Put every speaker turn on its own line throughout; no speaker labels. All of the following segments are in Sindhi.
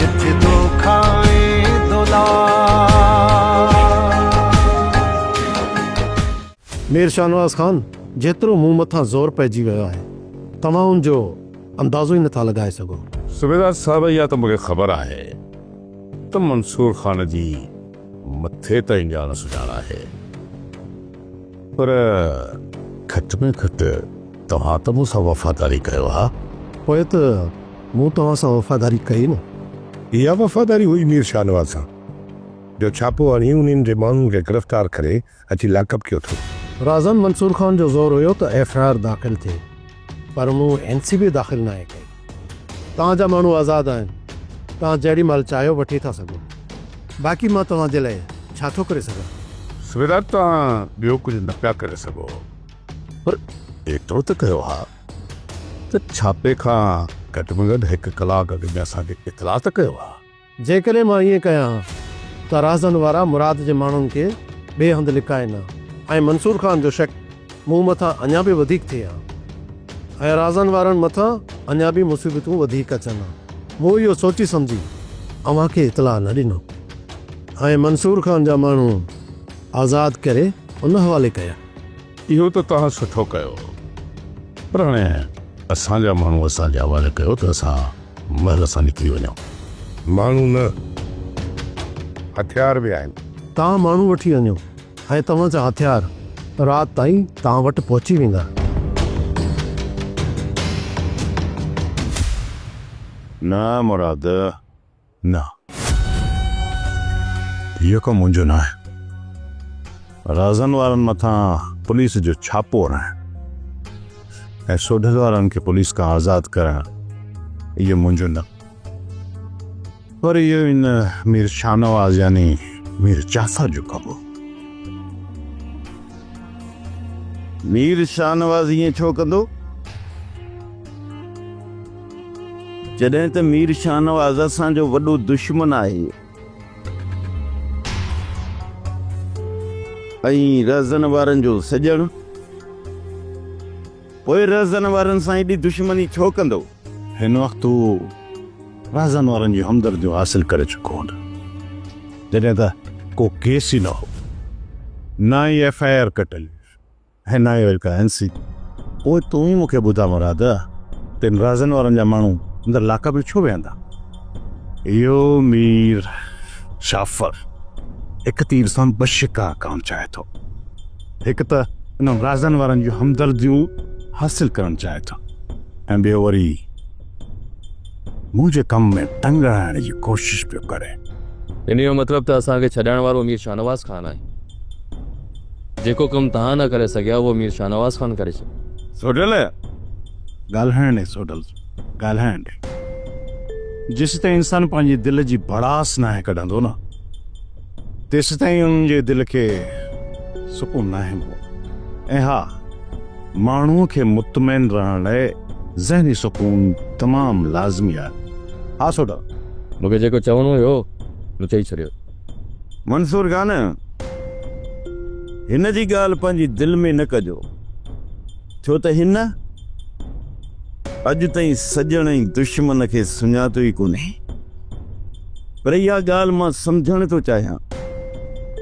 جت دوکا ۽ دولار. مير شاهنواز خان جيترو مون مٿان زور پئجي ويو آهي توهان ان جو اندازو ئي نٿا لڳائي سگهو. صوبيدار صاحب اها
ته مونکي خبر آهي ته منصور خان جي مٿي تائين ڄاڻ سڃاڻ آهي. پر گهٽ ۾ گهٽ توهان ته مون سان وفاداري ڪيو ها. پوء ته
مون توهان سان وفاداري ڪئي نه. اها وفاداري
هئي مير شاهنواز سان، جو ڇاپو هڻي انهن جي ماڻهن کي گرفتار ڪري اچي لاڪ اپ ڪيو اٿو. رازان منصور خان
جو زور هيو ته ايف آء آر داخل ٿئي. پر مون اين سي بي داخل ناهي ڪئي. تان جا ماڻهو آزاد آهن، تان جهڙي مهل چاهيو وٺي ٿا سگهو. باقي مان توهان جي لاء ڇا ٿو ڪري سگهان؟ صوبيدار
توهان ٻيو ڪجهه نه پيا ڪري سگهو، پر ايترو ته ڪيو ها ته ڇاپي کان گهٽ ۾ گهٽ هڪ ڪلاڪ اڳ ۾ اسان کي اطلاع ته ڪيو ها. جيڪڏهن مان ائين
ڪيان ها ته راهزن وارا مراد جي ماڻهن کي ٻئي هنڌ لڪائين ها ۽ منصور خان جو شڪ مون مٿان اڃا به وڌيڪ ٿئي ها ۽ راهزن وارن مٿان اڃا به مصيبتون وڌيڪ اچن ها. مون اهو سوچي سمجهي اوهان کي اطلاع نه ڏنو ۽ منصور خان جا ماڻهو آزاد ڪري ان حوالي ڪيا. اهو ته
توهان سٺو ڪيو پر هاڻي اسان جا ماڻهو اسان جي حوالي ڪيو ته اسان محل سان نڪري وڃان. ماڻهو نه،
هٿيار به آهن. توهان ماڻهو وٺي
وڃو ۽ توهان جا هٿيار رات تائين توهان وٽ پهچي ويندا. نه مراد،
نه. اهو ڪم منهنجو ناهي. رازن وارن مٿان پوليس جو ڇاپو هڻڻ ۽ سوڍل وارن کي پوليس کان آزاد ڪرڻ اهو منهنجو نه پر اهو ان مير شاهنواز يعني مير جعفر جو ڪم هو.
مير شاهنواز ائين ڇو ڪندو؟ جڏهن ته مير شاهنواز اسان جو وڏو دشمن آهي ۽ رهزن وارن جو سڄڻ پوء رهزن وارن سان ايڏي دشمني ڇو ڪندو؟ هن وقت هو
رهزن وارن جون همدرديون حاصل ڪري چڪو هوندو جڏهن ته ڪو ڪيس ئي نه هو نه ئي ايف آء آر ڪٽل هئي. هنايو الڪا هنسي. پوء تون ئي مون کي ٻڌاء مراد، تن رازن وارن جا ماڻهو اندر لاڪ اپ ۾ ڇو ويهندا؟ اهو مير جعفر هڪ تير سان ٻه شڪار ڪرڻ چاهي ٿو. هڪ ته انهن رازن وارن جون همدرديون حاصل ڪرڻ چاهي ٿو ۽ ٻيو وري. منهنجي ڪم ۾ تنگ آڻڻ جي ڪوشش پيو ڪري. ان جو مطلب
ته اسان کي ڇڏائڻ وارو مير شاهنواز خان آهي. جيڪو ڪم توهان نه ڪري سگهيا اهو مير شاهنواز خان ڪري ڇڏيو. سوڍل!
ڳالهائڻ
ڏي سوڍل، ڳالهائڻ ڏي. جيسيتائين انسان پنهنجي دل جي ڀڙاس ناهي ڪڍندو نه. تيستائين انهن جي دل کي سڪون ناهي ملندو ۽ ها ماڻهو کي مطمئن رهڻ لاء ذهني سڪون تمام لازمي آهي. ها سوڍا! مون کي جيڪو
چوڻو هيو هو مون چئي ڇڏيو. منصور
خان! هن جي ڳالهه پنهنجي دل ۾ نه ڪجو، ڇو ته هن اڄ تائين سڄڻ ۽ دشمن کي سڃاتو ئي ڪونهي. پر اها ڳالهه مان سمجهڻ ٿو چاهيان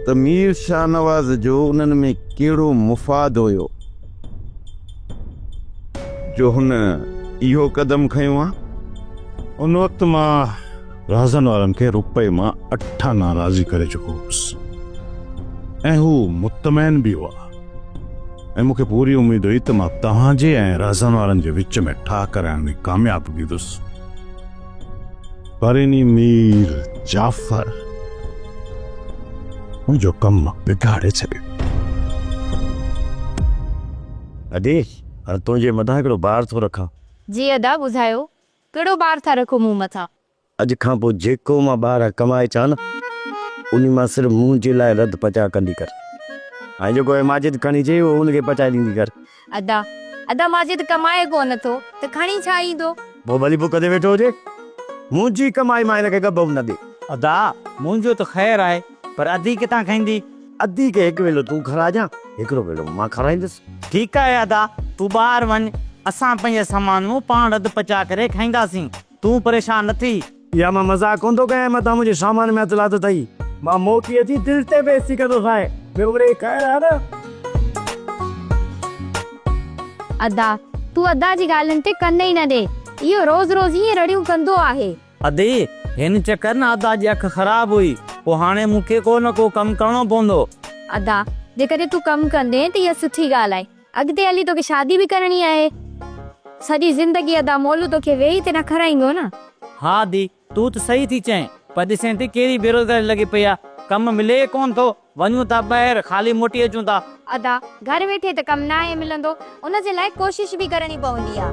ته مير شاهنواز جو انهن ۾ ڪهڙو مفاد هيو جو هن اهو قدم کنيو ها. ان
وقت مان رهزن وارن کي روپئي مان اٺ آنا راضي ڪري چڪو هوس ۽ هو مطمئن به هئا ۽ مون کي پوري اميد هئي ته مان توهان جي ۽ رهزن وارن جي وچ ۾ ٺاهه ڪرائڻ ۾ ڪامياب بيهندس. پريني مير جعفر ان جو ڪم بگاڙي ڇڏيو.
ادي هاڻ تنهنجي مٿان هڪڙو بار ٿو رکان. جي ادا ٻڌايو
ڪهڙو بار ٿا رکو مون مٿان. اڄ کان پوء
جيڪو مان ٻاهران ڪمائي اچان نه انهي مان صرف منهنجي لاء رڌ پچاء ڪندي ڪر ۽ جيڪو هي ماجد کڻي اچي اهو ان کي پچائي ڏيندي ڪر. ادا
ادا ماجد ڪمائي ڪو نه ٿو ته کڻي ڇا ايندو. پوء ڀلي بڪ تي ويٺو
هجي منهنجي ڪمائي مان هن کي ڳڀ به نه ڏي. ادا
منهنجو ته خير آهي پر ادي ڪٿان کائيندي. ادي کي هڪ
ويلو تون کاراجان هڪڙو ويلو مان کارائيندس. ٺيڪ آهي ادا
تون ٻاهر وڃ اسان پنهنجا سامان مون پاڻ رڌ پچاء ڪري کائينداسين. تون پريشان نه ٿي. اها مان مذاق
ڪونه ٿو ڪيان، متان منهنجي سامان ۾ هٿ لاٿو اٿئي. مان موٽي اچي تنهنجي تي بيعزتي ڪندوسانء. ٻيو مڙيئي خير آهي نه؟
ادا، تون ادا جي ڳالهين تي ڪن ئي نه ڏي. اهو روز روز ائين رڙيون ڪندو آهي. ادي،
هن چڪر نه ادا جي اک خراب هئي. پوء هاڻي مون کي ڪو نه ڪو ڪم ڪرڻو پوندو. ادا،
جيڪڏهن تون ڪم ڪندين ته اها سٺي ڳالهه آهي. اڳتي هلي توکي شادي به ڪرڻي آهي. سڄي زندگي ادا مولو توکي ويهي تي نه کارائيندو نه. ها ڌي
تون ته صحيح ٿي چئين پر ڏسين ٿي ڪهڙي بيروزگاري لڳي پئي آ ڪم ملي ئي ڪونه ٿو وڃون ٿا ٻاهر خالي موٽي اچون ٿا. ادا گهر
ويٺي ته ڪم ناهي ملندو ان جي لاء ڪوشش به ڪرڻي پوندي آ.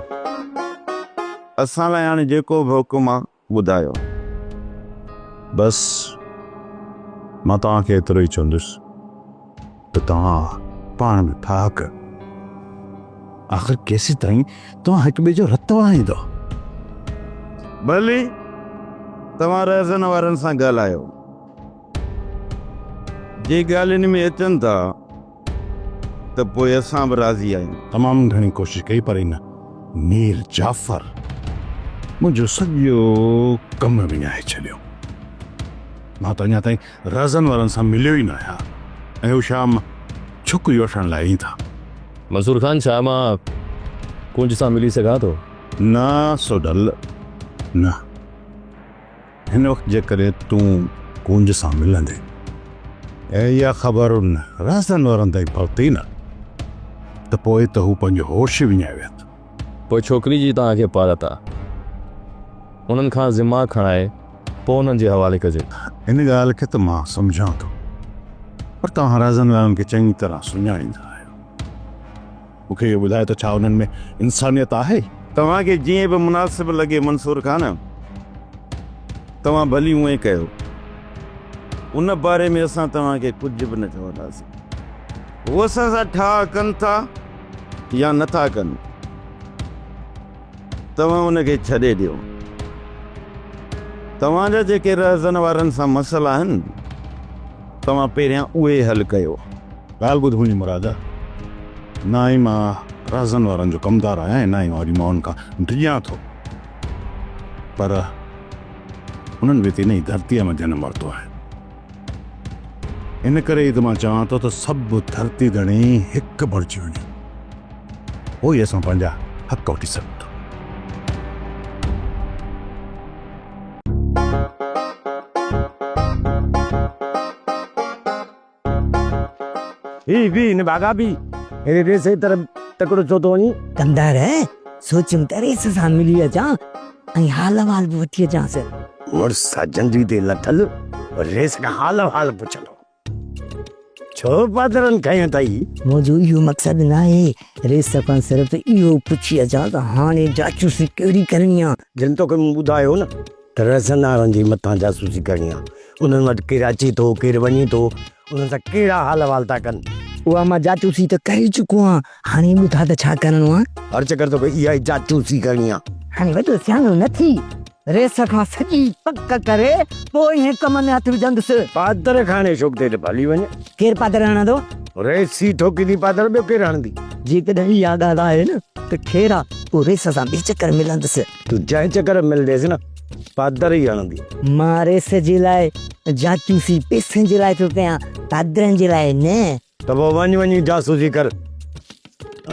اسان
لاء هاڻي جيڪو به حڪم آ ٻڌايو. بس
مان توهان کي ايترو ئي چوندس ته توهان پاڻ ۾ ٺاهه ڪيو. آخر ڪيسيتائين توهان هڪ ٻئي جو رت وهائيندؤ؟ ڀلي
توهان رهزن وارن سان ڳالهايو. جي ڳالهين ۾ اچن ٿا. ته پوء اسان به راضي آهيون. تمام گهڻي ڪوشش
ڪئي پر ان مير جعفر منهنجو سڄو ڪم وڃائي ڇڏيو. مان ته اڃا تائين رازن وارن سان مليو ئي نه آهيان ۽ هو شام ڇڪ يوٺڻ لاء ايئن ٿا. منصور خان
ڇا مان ڪونج سان ملي سگهان ٿو؟ نه سوڍل
نه. هن وقت جيڪڏهن تون ڪونج سان ملندين ۽ اها خبر ان رازدان وارن تائين پهتي نه ته پوء ته هو پنهنجو هوش ئي وڃائي ويهن ٿا. پوء ڇوڪري
جي توهان کي پارت آ. انهن کان ذمه کڻائي پوء انهن جي حوالي ڪجي. ان ڳالهه کي ته
مان سمجهان ٿو پر توهان رازدان وارن کي چڱي طرح سڃاڻيندا آهيو. مون کي اهو ٻڌاء ته ڇا انهن ۾ انسانيت آهي؟ توهان کي جيئن به
مناسب لڳي منصور خان، توهان ڀلي اونئين ڪيو. ان باري ۾ اسان توهان کي ڪجهه به نه چونداسين. هو اسان سان ٺاهه ڪن ٿا يا نٿا ڪن. توهان ان کي ڇڏي ڏيو. توهان جا جيڪي رهزن وارن سان مسئلا آهن، توهان پهريان اهي حل ڪيو. ڳالهه ٻڌ منهنجي
مراد، نه ئي مان رهزن وارن جو ڪمدار آهيان ۽ نه ئي وري مان انهن کان ڊڄان ٿو، پر انهن به تي نه ئي ڌرتيء مان جنم ورتو آهي. ان ڪري ئي ته مان چوان ٿو ته سڀ ڌرتي ڌڻي هڪ بڻجي وڃن، پوء ئي اسان پنهنجا حق وٺي سگهون ٿا.
هي به هن ڀاڳا به هيڏي ريس جي طرف تڪڙو ڇو ٿو وڃين؟ ڪندر،
سوچيم ته ريس سان ملي اچان. ۽ حال احوال به وٺي اچانس. مڙس سان
جنڊي تي لٿل ريس کان حال احوال پڇندو ڇو پادرن کنيو اٿئي؟ منهنجو اهو مقصد
ناهي، ريس کان صرف اهو پڇي اچان ته هاڻي جاسوسي ڪهڙي ڪرڻي آ؟ جن توکي مون ٻڌايو
نه ته رهسنارن جي مٿان جاسوسي ڪرڻي آ، انهن وٽ ڪير اچي ٿو ڪير وڃي ٿو، انهن سان ڪهڙا حال احوال ٿا ڪن. اها مان جاسوسي
ته ڪري چڪو آهيان. هاڻي ٻڌاء ته ڇا ڪرڻو آ؟ هر چڪر توکي اها ئي
چاچوسي ڪرڻي آ. هاڻي وڏو سياڻو
نه ٿي، ريس کان سڄي پڪ ڪري پوء ايئن ڪم ۾ هٿ وجهندس. پادر کاڻي شوق
تي ته ڀلي وڃ. ڪير پادر هڻندو؟
ريس ئي
ٺوڪيندي پادر، ٻيو ڪير هڻندي؟ جيڪڏهن اها
ڳالهه آهي نه ته خير آ، پوء ريس سان ٻئي چڪر ملندس. تون جنهن چڪر
۾ ملنديس نه، پادر ئي هڻندي. مان ريس جي
لاء چاچوسي پئسن جي لاء ٿو ڪيان، پادرن جي لاء نه. ته پوء وڃ وڃي
جاسوسي ڪر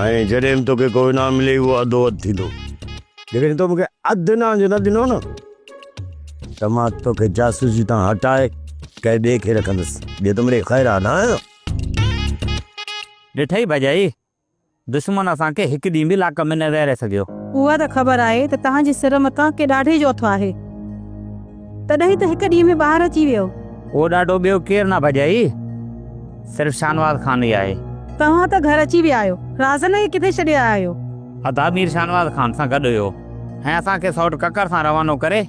۽ جڏهن به توکي ڪو انعام ملي اهو اڌو اڌ ٿيندو جيڪڏهن تو مونکي اڌ انعام جو نه ڏنو نه ته مان توکي جاسوسي تان هٽائي ڪنهن ٻئي کي رکندس جي تون منهنجي خير ها نه آهين.
ڏٺئي ڀڄائي دشمن اسان کي هڪ ڏينهن به لاڪ ۾ نه ويهاري سگهيو. اها ته خبر آهي
ته توهان جي سر مٿان ڪي ڏاڍي جو اٿو آهي. تڏهن ته هڪ ڏينهن ۾ ٻاهر اچي ويو. اهو ڏاڍو ٻيو
ڪير نه ڀڄائي، صرف شاهنواز خان ئي آهي. توهان ته گهر اچي
ويا آهيو. رازن کي ڪٿي ڇڏي آيا آهيو؟ ادا مير شاهنواز
خان سان گڏ هيو ۽ اسان کي سئوٽ ڪڪر سان روانو ڪري،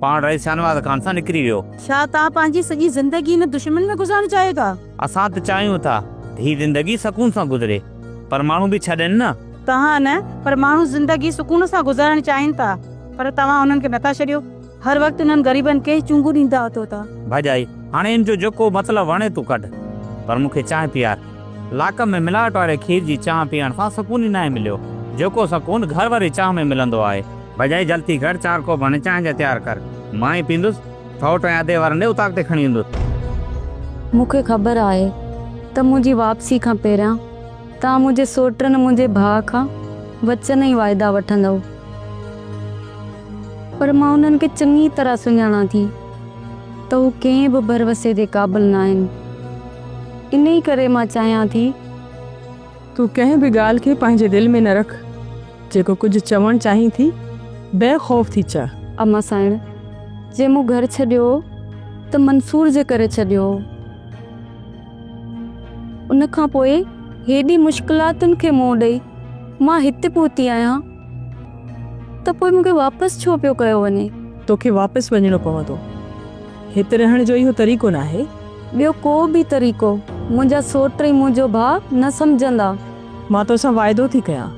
پاڻ رئيس شاهنواز خان سان نڪري ويو. ڇا توهان پنهنجي
سڄي زندگي هن دشمن ۾ گذارڻ چاهيو ٿا؟ اسان ته چاهيون
ٿا ته هي زندگي سڪون سان گذري پر ماڻهو به ڇڏين نه. توهان نه پر
ماڻهو زندگي سڪون سان گذارڻ چاهين ٿا پر توهان انهن کي نٿا ڇڏيو. هر وقت انهن غريبن کي چونگون ڏيندا اٿو ٿا. ڀڄائي هاڻي
ان جو جيڪو مطلب وڻي تو ڪڍ پر مون کي چانهه پيار. لاکن ۾ ملاوٽ واري کير جي چانهه پيئڻ سان سڪون ئي ناهي مليو. جيڪو سڪون گهر واري چانهه ۾ ملندو آهي. ڀڄائي جلتي ڪر چار ڪوپ هڻي چانهه جا تيار ڪر. مان ئي پيندس. سئوٽ ۽ ادي وارن ڏي اتاق تي کڻي ويندس. مون کي خبر
آهي ته منهنجي واپسي کان پهريان توهان منهنجي سئوٽ ۽ منهنجي ڀاء کان وچن ۽ واعدا وٺندؤ. پر مان انهن کي چڱي طرح سڃاڻان ٿي ته هو ڪنهن به ڀروسي جي قابل ناهن. انهيء ڪري مان چاهيان ٿي. تون
ڪنهن به ڳالهه کي پنهنجي دل ۾ نه رک، جيڪو ڪجهه چوڻ چاهين ٿي، بي خوف ٿي چئه. اما سائڻ،
جي مون گهر ڇڏيو ته منصور جي ڪري ڇڏيو هو. ان کان پوء هيڏي مشڪلاتن کي منهن ڏئي مان هتي پهتي آهيان. ته پوء مون کي واپس ڇو پيو ڪيو وڃي؟ توکي واپس
وڃڻو پوندو. هت رهڻ جو اهو طريقو ناهي. ٻيو ڪو به
طريقو منهنجا سوٽ ۽ منهنجو ڀاء نه سمجهندا. مان توسان
واعدو ٿي ڪيان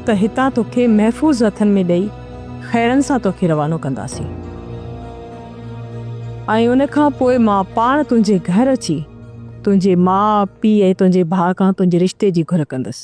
ته هتان توکي محفوظ هٿن ۾ ڏئي خيرن سان توکي روانو ڪنداسين ۽ ان کان پوء مان پاڻ تنهنجي گهر اچي تنهنجي ماء، پيء ۽ تنهنجي ڀاء کان تنهنجي رشتي جي گهر ڪندس.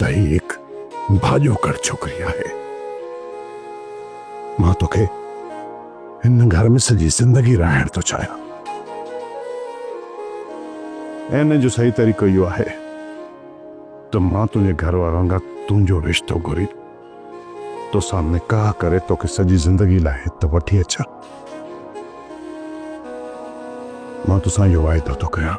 تحيق ڀاڄو ڪڙ ڇوڪري آهي. مان توکي هن گهر ۾ سڄي زندگي رهائڻ ٿو چاهيان. ان جو صحيح طريقو اهو آهي ته مان تنهنجي گهر وارن کان تنهنجو رشتو گهري توسان نڪاح ڪري توکي سڄي زندگي لاء هت وٺي اچان. مان توسان اهو واعدو ٿو ڪريان.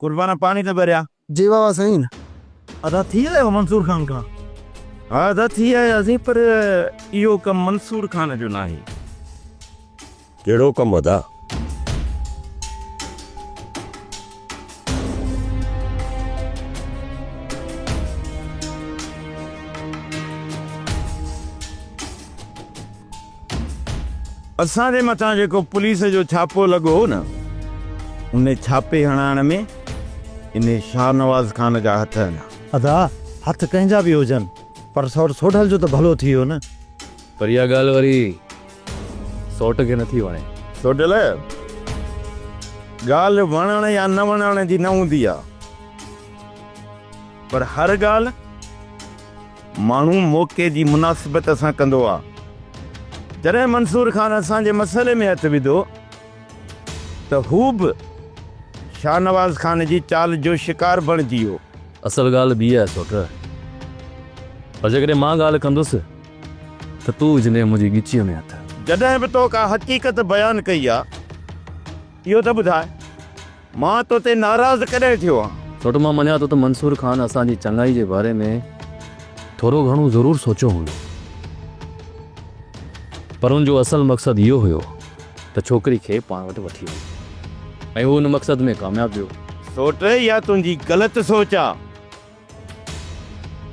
قربان پاڻي ته ڀريا. جي واهه واهه سائين.
ادا ٿي
آيو منصور خان کان؟ ها ادا ٿي آياسين پر اهو ڪم منصور خان جو ناهي.
ڪهڙو ڪم ادا؟
اسان جي مٿان جيڪو پوليس جو ڇاپو لڳو هو نه، انهي ڇاپي هڻائڻ ۾ انهي شاهنواز خان جا هٿ آهن. ادا،
هٿ ڪنهن جا به هجن، پر سئوٽ سوڍل جو ته ڀلو ٿي ويو نه. پر اها ڳالهه
وري سئوٽ کي نٿي وڻي. سوڍل،
ڳالهه وڻڻ يا نه وڻڻ جي نه هوندي آهي، پر هر ڳالهه ماڻهو موقعي جي مناسبت سان ڪندو آ. جڏهن منصور خان اسان جي مسئلي ۾ هٿ وڌو ته هو به شاهنواز خان جي چال جو شڪار بڻجي ويو. اصل ڳالهه ٻي
آهي سوٽ. پر جيڪڏهن مان ڳالهه ڪندس ته تون وجهندين منهنجي ڳچيء ۾ هٿ. جڏهن به تو ڪا
حقيقت بيان ڪئي آ اهو ته ٻڌاء. مان تو تي ناراض ڪڏهن ٿيو آهيان؟ سوٽ مان مڃان ٿو ته منصور
خان اسان جي چڱائي جي باري ۾ ٿورو گهڻو ضرور سوچيو هوندو پر ان جو اصل مقصد اهو هيو ته ڇوڪري کي پاڻ وٽ وٺي وڃي ۽ هو ان مقصد ۾ ڪامياب ويو. سوٽ اها
تنهنجي غلط سوچ آ.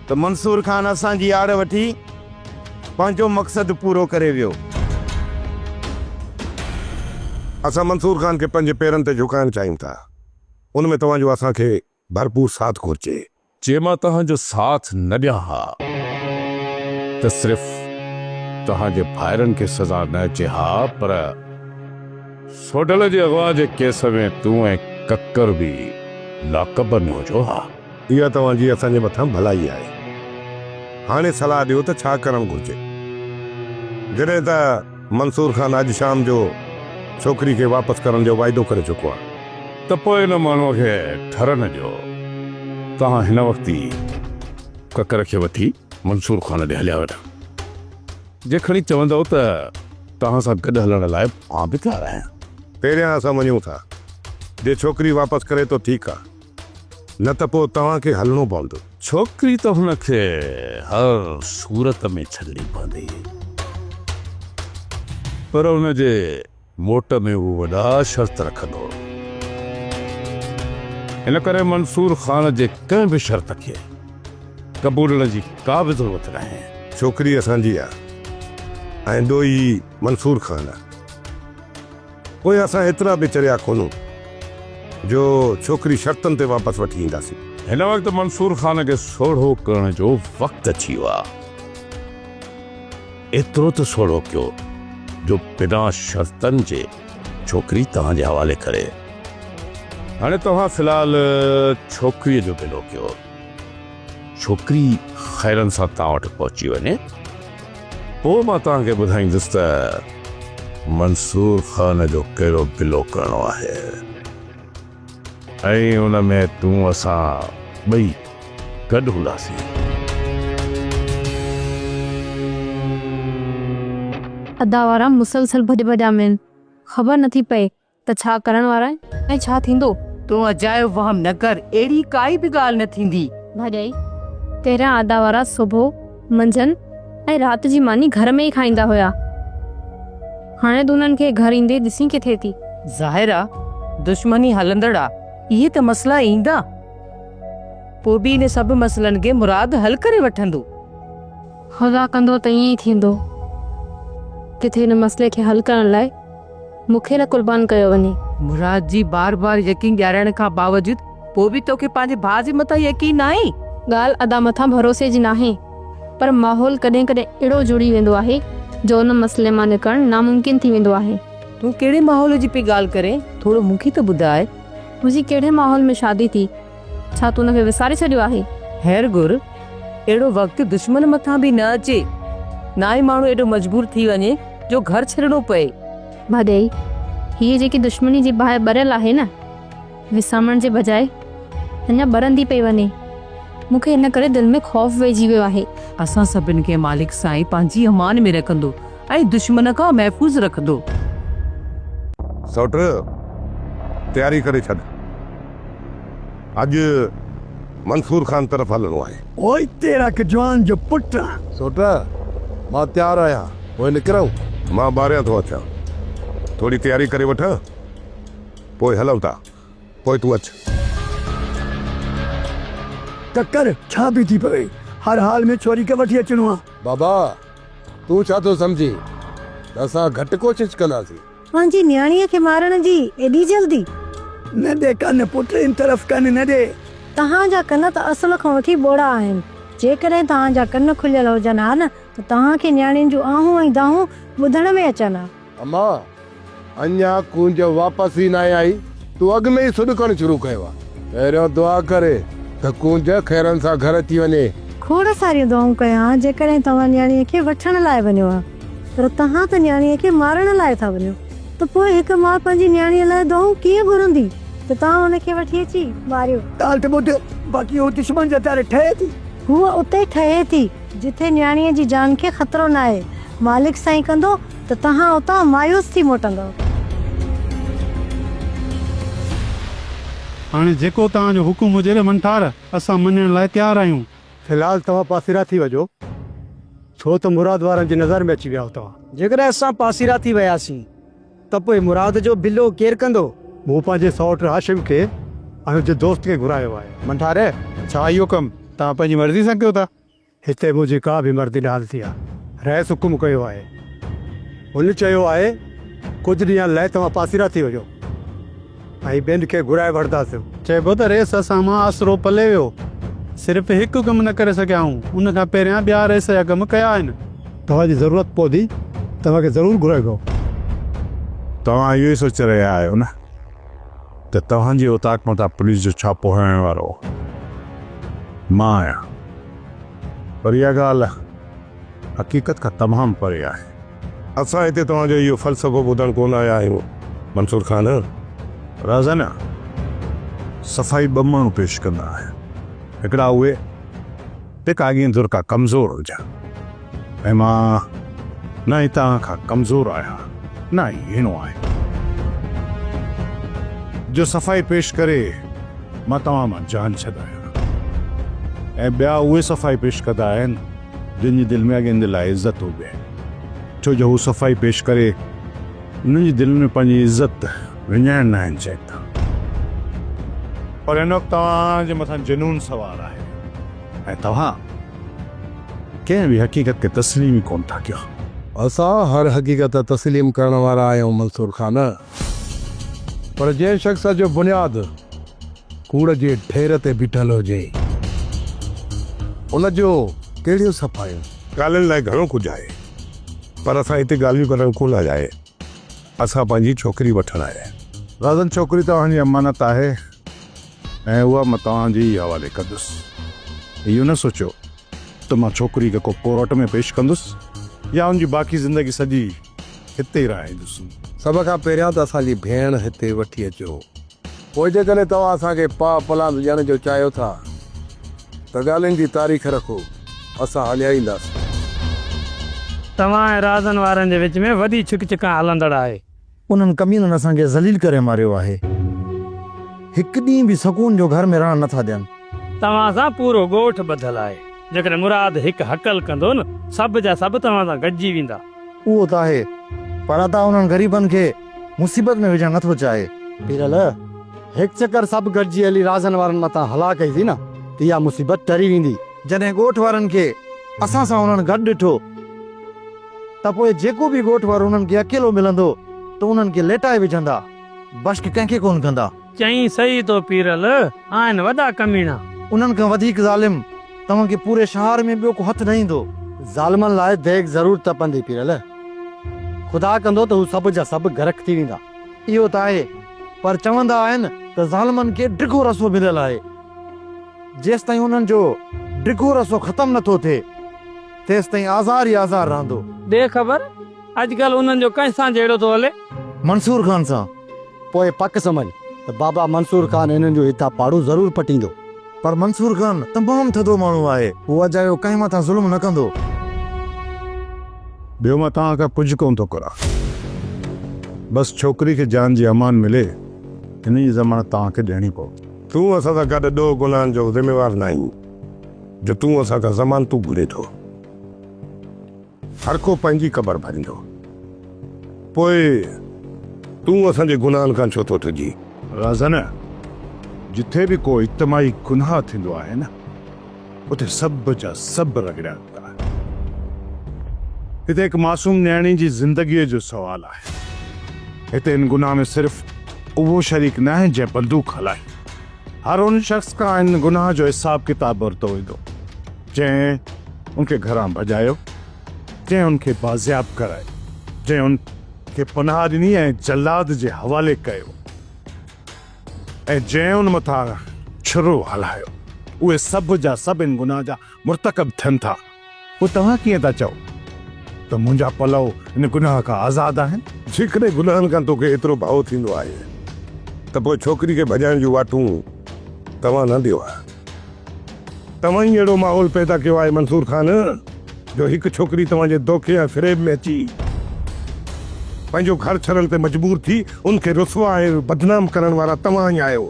ته منصور خان اسان جي آڙ وٺي پنهنجو مقصد پورو ڪري ويو.
اسان منصور خان کي پنهنجي پيرن تي جهڪائڻ چاهيون ٿا، ان ۾ توهان جو اسان کي ڀرپور ساٿ گهرجي. جي مان توهان
جو ساٿ نه ڏيان ها ته صرف توهان جي ڀائرن کي سزا نه اچي ها پر. سوڍل جي اغوا جي ڪيس ۾ تون ۽ ڪڪر به لاڪ اپ ۾ هجو ها. اها توهان جي
اسان جي مٿان ڀلائي آهي. هاڻي صلاح ڏيو ته ڇا ڪرڻ گهرجي. جڏهن ته منصور خان اڄ شام جو ڇوڪري کي واپس ڪرڻ جو واعدو ڪري چڪو آهي. ته پوء ان
ماڻهوء کي ٺرهه نه ڏيو. توهان هن وقت ئي ڪڪر کي وٺي منصور خان ڏي هليا ويٺا. جيکڻي چوندؤ ته توهان سان گڏ هلڻ لاء مان به تيار آهيان. پهريان اسان
وڃون ٿا. جي ڇوڪري واپس ڪري ته ٺيڪ آ. نه ته پوء توهان کي هلڻو پوندو. ڇوڪري ته هن
کي هر صورت ۾ ڇڏڻي پوندي. پر ان جي موٽ ۾ هو وڏا شرط رکندو هو. ان ڪري منصور خان جي ڪنهن به شرط کي قبولڻ جي ڪا به ضرورت ناهي. ڇوڪري اسان جي آ
۽ ڏوهي منصور خان آ. پوء اسان ايترا به چريا ڪونهون جو ڇوڪري شرطن تي واپس وٺي اينداسين. هن وقت منصور
خان کي سوڙهو ڪرڻ جو وقت اچي ويو آ. ايترو ته سوڙهو ڪيو جو بنا شرطن جي ڇوڪري توهان جي حوالي ڪري. هاڻي توهان في الحال ڇوڪريء جو گلو ڪيو. ڇوڪري خيرن سان توهان وٽ پهچي وڃي، پوء مان توهان کي ٻڌائيندس ته منصور خان جو ڪهڙو گلو ڪرڻو آهي. ۽ ان ۾ تون اسان ٻئي گڏ هونداسين.
ادا وارا مسلسل ڀڄ ڀڄا ۾ آهن خبر نٿي پئي ته ڇا ڪرڻ وارا آهن ۽ ڇا ٿيندو. تون اجايو
وهم نه ڪر اهڙي ڪائي به ڳالهه نه ٿيندي. ڀاڄائي
پهريان ادا وارا سوڀو. منجهند ۽ رات جي ماني گهر ۾ ئي کائيندا هيا. هاڻي تون انهن کي گهر ايندي ڏسين ڪٿي ٿي؟ ظاهر آ
دشمني هلندڙ آ. اهي ته مسئلا ايندا پوء به ان سڀ مسئلن کي مراد حل ڪري وٺندو. خدا
ڪندو ته ائين ئي ٿيندو. ڪٿي ان مسئلي کي حل ڪرڻ لاء مون کي نه قربان ڪيو وڃي. مراد جي بار
بار يقين ڏيارائڻ کان باوجود پوء به توکي پنهنجي ڀاء جي مٿان يقين ناهي؟ ڳالهه ادا مٿان
ڀروسي جي ناهي پر ماحول ڪڏهن ڪڏهن اهڙو جڙي ويندو آهي جو ان مسئلي مان نڪرڻ ناممڪن ٿي ويندو آهي. تون ڪهڙي ماحول
جي پئي ڳالهه ڪرين ٿورو مون کي ته ٻڌاء. منهنجي ڪهڙي
ماحول ۾ شادي ٿي؟ ڇا تون ان کي وساري ڇڏيو آهي؟ خير گهر،
اهڙو وقت دشمن مٿان به نه اچي. ناهي ماڻهو ايڏو مجبور ٿي وڃي جو گهر ڇڏڻو پئي. ڀاڄائي،
هيء جيڪي دشمني جي باهه ٻريل آهي نه، وسامڻ جي بجاء اڃا ٻرندي پئي وڃي. مون کي ان ڪري دل ۾ خوف ويهجي ويو آهي. اسان سڀن کي
مالڪ سائين پنهنجي امان ۾ رکندو. ۽ دشمن کان محفوظ رکندو.
سئوٽ، تياري ڪري ڇڏ. اڄ منصور خان طرف هلڻو آهي. پوء اتي رک
جوان جو پٽ آن. سئوٽ، مان تيار آهيان. پوء نڪرون؟ مان ٻاهريان ٿو
اچان. ٿوري تياري ڪري وٺ، پوء هلون ٿا. پوء تون اچ.
ڪڪر، ڇا پئي ٿي پوي؟ هر حال ۾ ڇوري کي وٺي اچڻو آهي. بابا، تون ڇا ٿو سمجهين ته اسان گهٽ ڪوشش ڪنداسين. پنهنجي نياڻيء
کي مارڻ جي ايڏي جلدي؟ نه ڏي
ڪن، پٽ ان طرف ڪن نه ڏي. توهان جا ڪن
ته اصل کان وٺي ٻوڙا آهن. جيڪڏهن توهان جا ڪن کليل هجن ها نه ته توهان کي نياڻين جون آهون ۽ دانهون ٻڌڻ ۾ اچن ها. اما!
اڃا ڪونج واپس ئي ناهي آئي، تون اڳ ۾ ئي سڏ ڪرڻ شروع ڪيو آ. پهريون دعا ڪر ته ڪونج خيرن سان گهر اچي وڃي. کوڙ ساريون
دعائون ڪيان، جيڪڏهن توهان نياڻيء کي وٺڻ لاء وڃو ها، پر توهان ته نياڻيء کي مارڻ لاء ٿا وڃو، ته پوء هڪ ماء پنهنجي نياڻيء لاء دعائون ڪيئن گهرندي ته توهان هن کي وٺي اچي ماريو؟ ڳالهه ته ٻڌ،
باقي هوء دشمن جي هٿياري ٺهي ٿي. هوء اتي
ٺهي ٿي، جتي نياڻيء جي جان کي خطرو ناهي. مالڪ سائين ڪندو. ته توهان اتان مايوس ٿي موٽندؤ. هاڻي
جيڪو توهان جو حڪم هجي ري منٺار، اسان مڃڻ لاء تيار آهيون. في الحال توهان
پاسيرا ٿي وجهو، ڇو ته مراد وارن جي نظر ۾ اچي ويا آهيو توهان. جيڪڏهن اسان پاسيرا
ٿي وياسين ته پوء مراد جو بلو ڪير ڪندو؟ مون پنهنجي سئوٽ
هاشم کي ۽ هن جي دوست کي گهرايو آهي. منٺار، ڇا
اهو ڪم توهان پنهنجي مرضي سان ڪيو ٿا؟ هتي منهنجي ڪا
به مردي نه هلندي آهي. رئيس حڪم ڪيو آهي. هن چيو آهي، ڪجهه ڏينهن لئه توهان پاسيرا ٿي وڃو ۽ ٻين کي گهرائي وٺنداسون. چئبو ته رئيس
اسان مان آسرو پلي ويو. صرف هڪ ڪم نه ڪري سگهيا آهيون. ان کان پهريان ٻيا رئيس جا ڪم ڪيا آهن. توهان جي ضرورت
پوندي توهان کي ضرور گهرائبو.
توهان اهو ئي سوچي رهيا آهيو نه؟ ته توهان جي اوطاق مٿان پوليس جو ڇاپو هڻڻ وارو مان آهيان پر اها ڳالهه حقيقت کان تمام پري آهي. اسان هتي
توهان جو اهو فلسفو ٻڌڻ ڪونه آيا آهيون منصور خان. رازانا
صفائي ٻه ماڻهو پيش ڪندا آهن هڪڙا اهي. تي ڪاڳين ڌر ڪا ڪمزور هجان ۽ مان نه ئي توهان کان ڪمزور آهيان نه ئي هيڻو آهيان جو صفائي پيش ڪري مان توهان مان جان ڇڏايان ۽ ٻيا اهي صفائي پيش ڪندا آهن جن جي دل ۾ اڳين دي لاء عزت هجي ڇو جو هو صفائي پيش ڪري انهن جي دلن ۾ پنهنجي عزت وڃائڻ ناهن چاهيندا. پر هن وقت توهان جي مٿان جنون سوار آهي ۽ توهان ڪنهن به حقيقت کي تسليم ئي ڪونه ٿا ڪيو. اسان هر
حقيقت تسليم ڪرڻ وارا آهيون منصور خان. پر جنهن شخص جو بنياد ڪوڙ جي ڍير تي بيٺل هجي ان جون ڪهڙيون صفايون؟ ڳالهين لاء گهڻو
ڪجهه آهي پر اسان هتي ڳالهيون ڪرڻ ڪونه آيا آهيون. اسان پنهنجي ڇوڪري وٺڻ آيا آهيون. غزل ڇوڪري توهان جي
امانت آهي ۽ اها مان توهان جي ئي حوالي ڪندس. اهو نه سوچيو ته مان ڇوڪري کي ڪو ڪورٽ ۾ پيش ڪندس يا ان جي باقي زندگي سڄي هتي ئي رهائيندس. سڀ کان پهريان
ته اسان جي ڀيڻ هتي وٺي اچو. پوء جيڪڏهن توهان اسان کي پاء پلاند ڏيڻ جو چاهيو ٿا ته ڳالهين جي تاريخ رکو، اسان هليائينداسين.
توهان ۽ رازن وارن جي وچ ۾ وڏي ڇڪ ڇڪان هلندڙ آهي. انهن ڪمينن
اسان کي ذليل ڪري ماريو آهي. هڪ ڏينهن به سڪون جو گهر ۾ رهڻ نه ٿا ڏين. توهان سان
پورو ڳوٺ ٻڌل آهي. جيڪڏهن مراد هڪ هڪل ڪندو نه سڀ جا سڀ توهان سان گڏجي ويندا. اهو ته آهي
پر ادا انهن غريبن کي. مصيبت ۾ وجهڻ نٿو چاهي. پيرل،
هڪ چڪر سڀ گڏجي هلي رازن وارن مٿان هلا ڪئيسين نه ته اها مصيبت ٽري ويندي. جڏهن ڳوٺ وارن
کي اسان سان انهن گڏ ڏٺو ته پوء جيڪو به ڳوٺ وارو انهن کي اڪيلو ملندو ته انهن کي ليٽائي وجهندا. بشڪ ڪنهن کي ڪونه ڪندا. چئين سهي تو
پيرل آهن وڏا ڪميڻا. انهن کان وڌيڪ
ظالم توهان کي پوري شهار ۾ ٻيو ڪو هٿ نه ايندو. ظالمن لاء
ديڳ ضرور تپندي پيرل. خدا ڪندو ته هو سڀ جا سڀ غرق ٿي ويندا. اهو ته آهي
پر چوندا آهن ته ظالمن کي ڊگهو رسو مليل آهي. جيستائين انهن جو ڊگهو رسو ختم نٿو ٿئي تيستائين آزار ئي آزار رهندو. ڏي خبر
اڄڪلهه انهن جو ڪنهن سان جهيڙو ٿو هلي؟ منصور خان سان.
پوء پڪ
سمجهه ته بابا منصور خان انهن جو هتان پاڙو ضرور پٽيندو. پر منصور
خان تمام ٿڌو ماڻهو آهي. هو اجايو ڪنهن مٿان ظلم نه ڪندو.
ٻيو مان توهان کان ڪجهه ڪونه ٿو گهران. بس ڇوڪري کي جان جي امان ملي، ان جي ضمانت توهان کي ڏيڻي پوندي. تون اسان سان گڏ
ڏوهه گناهن جو ذميوار ناهين، جو تون اسان کان ضمانتون گهرين ٿو. هرڪو پنهنجي قبر ڀريندو. پوء تون اسان جي گناهن کان ڇو ٿو ڊڄين؟ رازن!
جتي به ڪو اجتماعي گناهه ٿيندو آهي نه، اتي سڀ جا سڀ رڳڙيا ويندا آهن. هتي هڪ معصوم نياڻي جي زندگيء جو سوال آهي. هتي ان گناهه ۾ صرف اهو شريڪ ناهي جنهن بندوق هلائي. هر ان شخص کان ان گناهه جو حساب ڪتاب ورتو ويندو. جنهن ان کي گهران ڀڄايو، جنهن ان کي بازياب ڪرايو، جنهن ان کي پناهه ڏني ۽ جلاد جي حوالي ڪيو ۽ جنهن ان مٿان ڇرو هلايو، اهي سڀ جا سڀ ان گناهه جا مرتڪب ٿين ٿا، پوء توهان ڪيئن ٿا چئو ته منهنجا پلئو ان گناهه کان آزاد آهن؟ جيڪڏهن گناهن
کان توکي ايترو ڀؤ ٿيندو آهي ته پوء ڇوڪري کي ڀڄائڻ جون واٽون توهان نه ڏيو ها. توهان ئي اهڙو ماحول پيدا ڪيو آهي منصور خان جو هڪ ڇوڪري توهان جي دوکي ۽ فريب ۾ اچي پنهنجو گهر ڇڏڻ تي مجبور ٿي ان کي رسوا ۽ بدنام ڪرڻ وارا توهان ئي آهيو.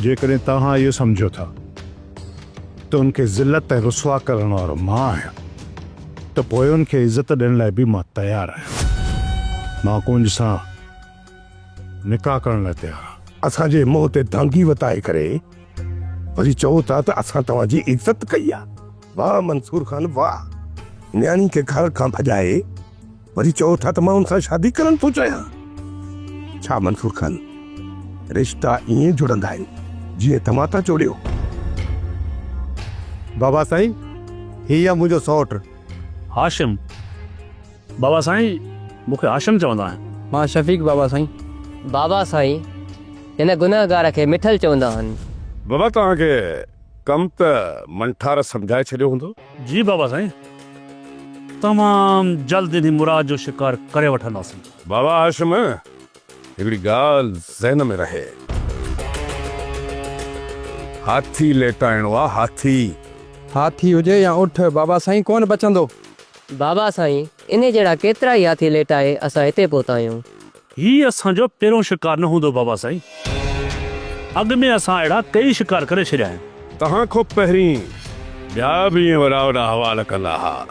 جيڪڏهن توهان اهو سمجهو ٿا ته ان کي ذلت ۽ رسوا ڪرڻ وارو مان آهيان ته پوء ان کي عزت ڏيڻ لاء به مان تيار آهيان. مان ڪونج سان نڪاح ڪرڻ لاء تيار آ. اسان جي منهن تي دانگي
وتائي ڪري وري چئو ٿا ته اسان توهان جي عزت ڪئي آ. واه منصور خان واه. نياڻي کي گهر کان ڀڄائي وري چئو ٿا ته مان ان سان شادي ڪرڻ ٿو چاهيان. ڇا منصور خان رشتا ائين جڙندا آهن جيئن توهان ٿا جوڙيو.
بابا سائين هي آ منهنجو سئوٽ. هاشم.
بابا سائين مون کي هاشم چوندا آهن. مان شفيق بابا سائين.
بابا سائين
هن گنهگار کي مٺل چوندا آهن. بابا توهان کي
ڪم ته منٺار سمجهائي ڇڏيو هوندو. جي بابا سائين
تمام جلد انهي مراد جو شڪار ڪري وٺنداسين. بابا هاشم
هڪڙي ڳالهه ذهن ۾ رهي. هاٿي ليٽائڻو آ هاٿي. هاٿي هجي يا اٺ
بابا سائين ڪونه بچندو. بابا
سائين انهي جهڙا ڪيترائي هاٿي ليٽائي اسان هتي پهتا آهيون. هي اسان جو
پهريون شڪار نه هوندو بابا سائين. اڳ ۾ اسان اهڙا ڪيئي شڪار ڪري ڇڏيا آهن. توهان کان پهرين
ٻيا به ائين وڏا وڏا حوال ڪندا ها.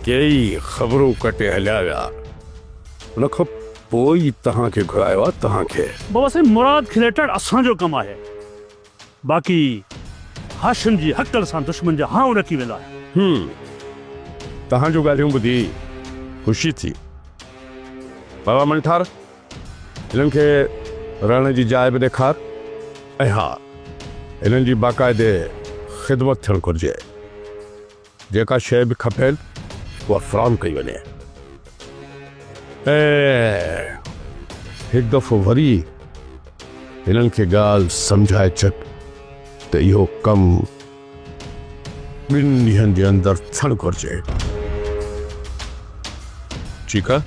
ڪيئي خبرون ڪٽي هليا ويا. ان کان پوء ئي توهان کي گهرايو آهي. توهان کي. بابا سائين مراد
کليٽڻ اسان جو ڪم آهي. باقي هاشم جي هڪل سان دشمن جا هانء رڪي ويندا آهن. هوم،
توهان جون ڳالهيون ٻڌي خوشي ٿي. بابا منٺار، هنن کي رهڻ جي جاء به ڏيکار ۽ ها، هنن جي باقاعدي خدمت ٿيڻ گهرجي. جيڪا شيء به کپين اها فراهم ڪئي وڃي ۽ هڪ دفعو وري هنن کي ڳالهه سمجهائي ڇڏ ته اهو ڪم ٻن ڏينهن جي اندر ٿيڻ گهرجي. ٺيڪ آهي؟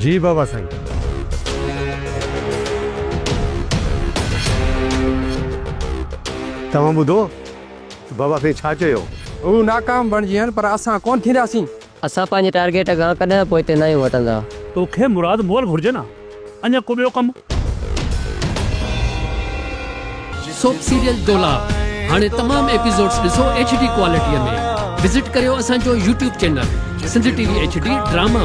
جي بابا سائين.
توهان ٻڌو؟ ته بابا سائين ڇا چيو؟ هو ناڪام
بڻجين پر اسان ڪونه ٿينداسين. اسان پنهنجي ٽارگيٽ
کان ڪڏهن پوئتي ناهيون هٽندا. توکي مراد
مول گهرجي نه اڃا ڪو ٻيو ڪم.
سوپ سيريل ڊولا هاڻي تمام ايپيسوڊس ڏسو ايڇ ڊي ڪوالٽي ۾ وزٽ ڪريو اسان جو YouTube channel Sindh T V H D drama.